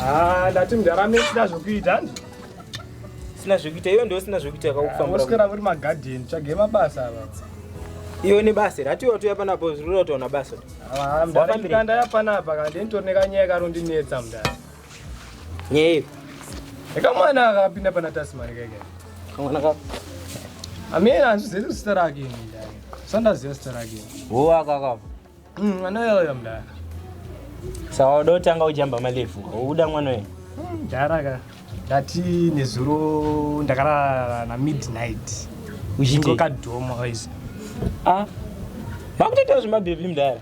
Ah, ndati mdara mesina zvokuita ndi sina zvekuita iyo ndiyo sina zvekuita yakakufambira oswera kuri magadheni tsvage mabasa ava iyo ne basa iri hatiwa tuya panapa zvirura utaona basa Wafambire. ndanda yapanapa kandi nditori nekanyaya karondinetsa mdara Nyei. Eka mwana akapinda pana Tasmani keke. Kamwana ka. Amina azvizivi zita rake ini ndani. Sandaziva zita rake. Wo akaka. Mm, anoyoyo mdara. Sawa udo tanga ujamba malefu. Uda mwana wewe. Mm, mdara ka. Ndati nezuro ndakarara na midnight. Uchingoka dhomo guys. Ah. Makutoita zvimabhebhi mdara.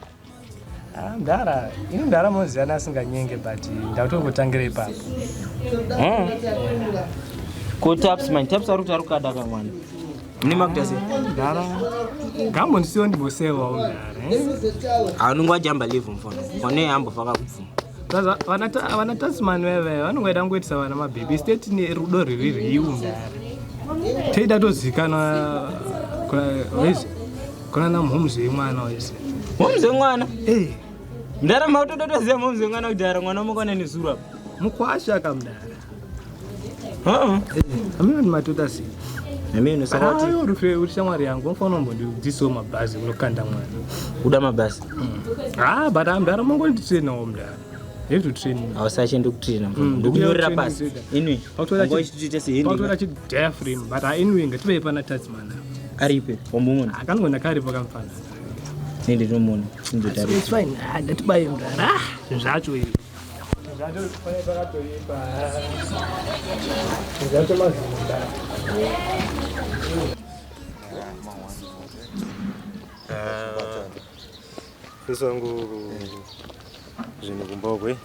mdara ini mdara munozivana asinganyenge but ndautongotangira ipapo hmm. ko taps man taps ari kuti ari kukada ka mwana mune makuita se mdara gambo ndisiwo ndimbosewawo mdara eh? anonge wajamba live mfono one ambofaka kubvuma vana tasman veve vanongoita kungoitisa vana mabhebhi state nerudo riri riu mdara teida tozikanwa Kona na momzi wemwana wese. Momzi wemwana? Eh. Mdara mautototoziva momzi wemwana kuti ara mwana mukwana nezuru apa. Mukwasha ka mdara. Uh-uh. Eh, amino ni matuta si. Amino saka kuti. Ayo rufe uri shamwari yangu mfano mbo ndi diso mabhazi unokanda mwana. Uda mabhazi. Mm. Ah, but amdara mongoli tisena omdara. hausachiende kutraina mm, ndokunyorera pasi inwi ngoichitoita sehendiautora chidiafrim but inwi ngativei pana tatsman aripe wambomuona akangoona karipo kamfana nende ndinomuona ndatibaye mrara zvacho izvi zvacho pane pakatoipa zvacho mazimba Uh, Sisi wangu zvinhu kumbogwe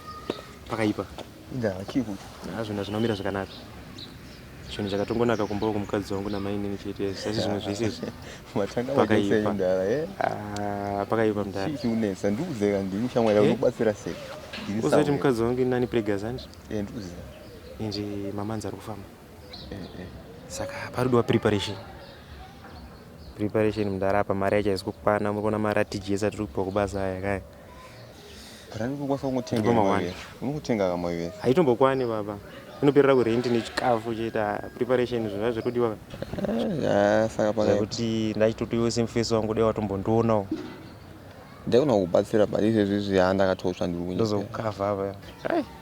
pakaipa. Inda chii kuti? Ah zvinhu zvinomira zvakanaka. Chinhu chakatongonaka kumba kumukadzi wangu namai nini chete sasi zvimwe zvese izvi. Matanga pakaipa ndara eh. Ah pakaipa mdara. Chii unesa ndiuze ka ndini shamwari eh? unobatsira sei? Ndini sasa. Uzoti mukadzi wangu inani pregazanji? Eh ndiuze. Inji mamanzi ari kufamba. saka paridiwa preparation preparation mudhara apa mari yacho haisi kukwana muri kuona mari atiji yese atiri kupiwa kubasa aya kaya haitombokwani baba inoperera kurenti nechikafu chete preparation izvo zvazviri kudiwa kuti ndachitotiwo semufesi wangu dai watombondionawo ndaigona kubatsira but izvezvi zviya ndakatotsva ndiri kunyika ndozokukavha apa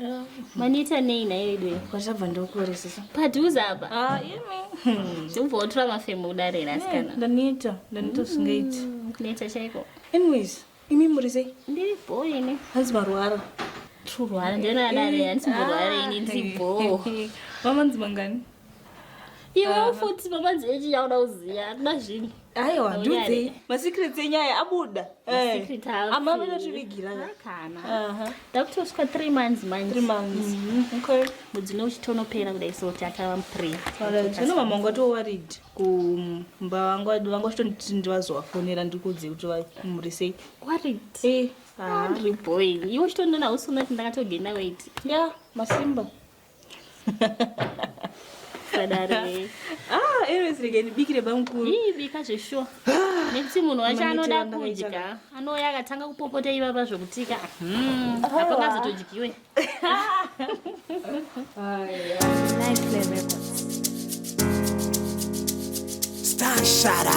Ah, maneta nei nayo idwe kwachabva ndokuoresesa padhuze apa ah, ubva wotora mafemo kudare ra asikana ndaneta ndaneta zvingaiti mm, kuneta chaiko anyways imi muri sei ndiri bho ini hanzi marwara turwara ndinoadare handisi murwara ini ndiri bho mamanzi mangani iwe ah. futi mapanzi echi yauda kuziva hatina zvinhu aiwa ndudzi masecrets enyaya abuda eh. ama vanotivigira takutosvika three months manje mhm. mudzi no uchitonopera kudai so ti atava mupre zvino mama wanga towarid kumba vanga vanga uchitonditi ndivazovafonera ndikudze kuti vamuri sei warid eh, ah. andri boy iwe uchitondona usunoti ndakatogenda waiti ya masimba ah, erezirekenibikire bamukuru ii bika zveshuwa nekuti munhu wacho anoda kudya anouya akatanga kupopota ivava zvokutika hmm, apangazotodyiwe Stashara.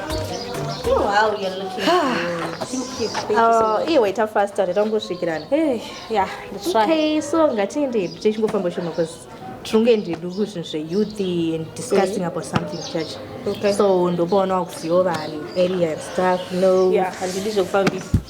Wow, you're looking good. Oh, iwe ita faster nditangosvikirana. Hey, eh, yeah, that's right. Okay, so ngatende tichingofamba shoma because tinonge ndiduku zvinhu zveyouth and discussing about something church okay. so ndopaona wakuziva vanhu area and stuff no yeah, handidi zvekufambisa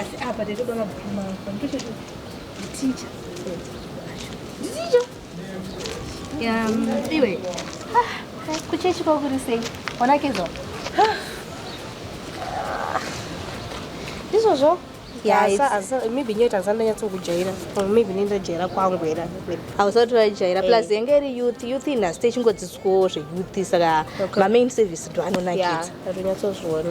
asi apa taitoda mabhuku mako nditochoti ticha nditicha iwe ah, kuchechi kwakuri sei wanakidzwa ah. ndizvozvo maybe nyoita ndisati ndanyatsokujaira or maybe nendajaira kwangu era hausati wajaira eh. plus yenge iri youth youth inhasi techingodzidzwawo zveyouth saka mamain service ndoanonakidza atonyatsozviona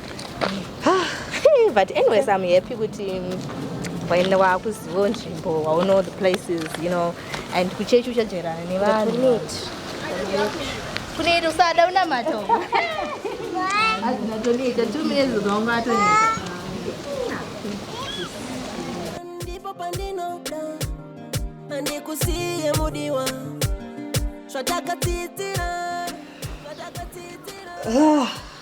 ah, but anyways i'm happy kuti waenda wakuzivo nzvimbo wauno the places you know and kuchechi uchajerana nevanhu kuneiti usada unamata azvinatoniita two minutes ukaunga atoniita ndipo pandinoda andikusiye mudiwa zvatakatsidzira zvatakatsidzira ah.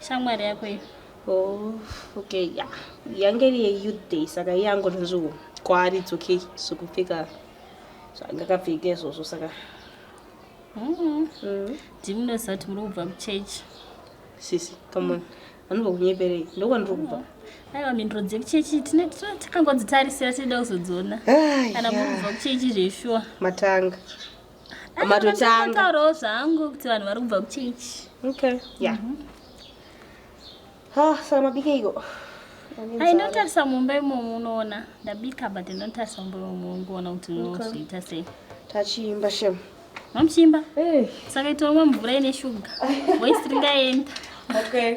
shamwari yako iyi oh, okay ya yeah. yange iri yeyouth day saka iye angonzviwo kwaari it's okay zvekupfeka zvangakapfeka izvozvo saka ndimunoziva kuti muri kubva kuchurch sisi come on anobva kunyeperei ndokwandiri kubva aiwa mhinduro dzekuchechi takangodzitarisira tinoda kuzodziona kana muri kubva kuchechi zveshuwa matanga matotangataurawo zvangu kuti vanhu vari kubva kuchechi okay ya yeah. mm -hmm. ah, saka mabikeiko ai ndotarisa mumba imomo unoona ndabika but ndotarisa mumba imomo ungoona kuti unozoita sei tachiimba shem mamuchiimba eh. saka itomwa mvura ine shuga waisi ringaenda okay